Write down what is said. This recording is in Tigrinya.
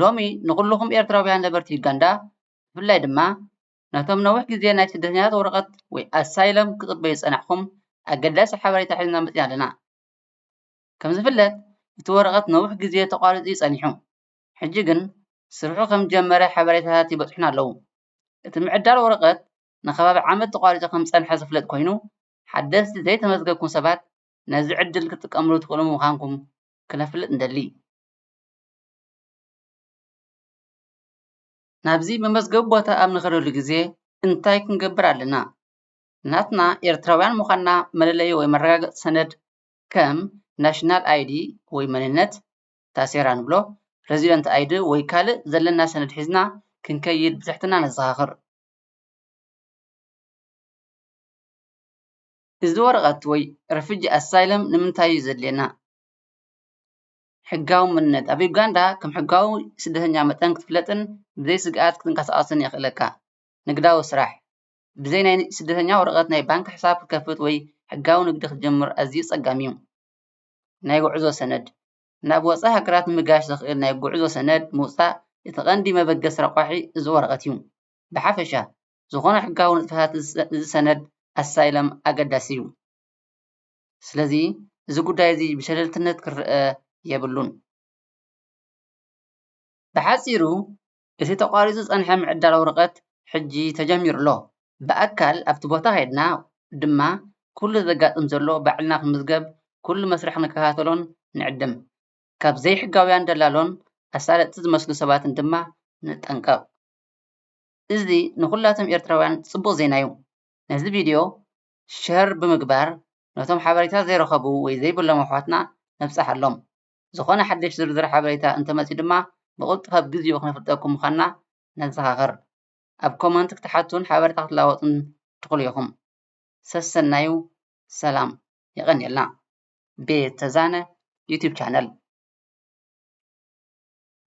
ሎሚ ንኹሉኹም ኤርትራውያን ነበርቲ ዩጋንዳ ብፍላይ ድማ ነቶም ነዊሕ ግዜ ናይ ስደተኛታት ወረቐት ወይ ኣሳይለም ክትጽበዩ ዝጸናሕኩም ኣገዳሲ ሓበሬታ ሒዝና መጺና ኣለና። ከም ዝፍለጥ እቲ ወረቐት ነዊሕ ግዜ ተቋሪጹ እዩ ጸኒሑ ሕጂ ግን ስርሑ ከም ዝጀመረ ሓበሬታታት ይበጽሑና ኣለዉ። እቲ ምዕዳል ወረቐት ንከባቢ ዓመት ተቋሪጹ ከም ዝጸንሐ ዝፍለጥ ኮይኑ ሓደስቲ ዘይተመዝገብኩም ሰባት ነዚ ዕድል ክትጥቀምሉ ትኽእሉ ምዃንኩም ክነፍልጥ ንደሊ። ናብዚ መመዝገቢ ቦታ ኣብ እንኸደሉ ግዘ እንታይ ክንገብር ኣለና? ናትና ኤርትራውያን ምዃንና መለለዪ ወይ መረጋገፂ ሰነድ ከም ናሽናል ኣይዲ ወይ መንነት፣ ታሴራ ንብሎ፣ ረዚደንት ኣይዲ ወይ ካልእ ዘለና ሰነድ ሒዝና ክንከይድ ብትሕትና ነዘኻኽር። እዚ ወረቐት ወይ ረፊጂ ኣሳይለም ንምንታይ እዩ ዘድልየና? ሕጋውምነት፣ ኣብ ዩጋንዳ ከም ሕጋዊ ስደተኛ መጠን ክትፍለጥን ብዘይ ስግኣት ክትንቀሳቐስን የኽእለካ። ንግዳዊ ስራሕ፣ ብዘይ ናይ ስደተኛ ወረቐት ናይ ባንክ ሕሳብ ክትከፍት ወይ ሕጋዊ ንግዲ ክትጅምር ኣዝዩ ጸጋም እዩ። ናይ ጉዕዞ ሰነድ፣ ናብ ወጻኢ ሃገራት ንምጋሽ ዘኽእል ናይ ጉዕዞ ሰነድ ምውጻእ እቲ ቀንዲ መበገሲ ረቋሒ እዚ ወረቐት እዩ። ብሓፈሻ፣ ዝኾነ ሕጋዊ ንጥፈታት እዚ ሰነድ ኣሳይለም ኣገዳሲ እዩ። ስለዚ እዚ ጉዳይ እዚ ብሸለልትነት ክረኣ የብሉን። ብሓፂሩ እቲ ተቋሪፁ ዝፀንሐ ምዕዳል ወረቀት ሕጂ ተጀሚሩ ኣሎ። ብኣካል ኣብቲ ቦታ ከይድና ድማ ኩሉ ዘጋጥም ዘሎ ባዕልና ክንምዝገብ ኩሉ መስርሕ ክንከታተሎን ንዕድም። ካብ ዘይሕጋውያን ደላሎን ኣሳለጥቲ ዝመስሉ ሰባትን ድማ ንጠንቀቅ። እዚ ንኹላቶም ኤርትራውያን ፅቡቅ ዜና እዩ። ነዚ ቪድዮ ሸር ብምግባር ነቶም ሓበሬታ ዘይረኸቡ ወይ ዘይብሎም ኣሕዋትና ነብጻሓሎም። ዝኾነ ሓድሽ ዝርዝር ሓበሬታ እንተመጽዩ ድማ ብቕልጡፍ ኣብ ግዚኡ ክነፍልጠኩም ምዃንና ነዘኻኽር። ኣብ ኮመንት ክትሓቱን ሓበሬታ ክትላወጡን ትኽሉ ኢኹም። ሰሰናዩ ሰላም። የቐንየልና። ቤት ተዛነ ዩቱብ ቻነል።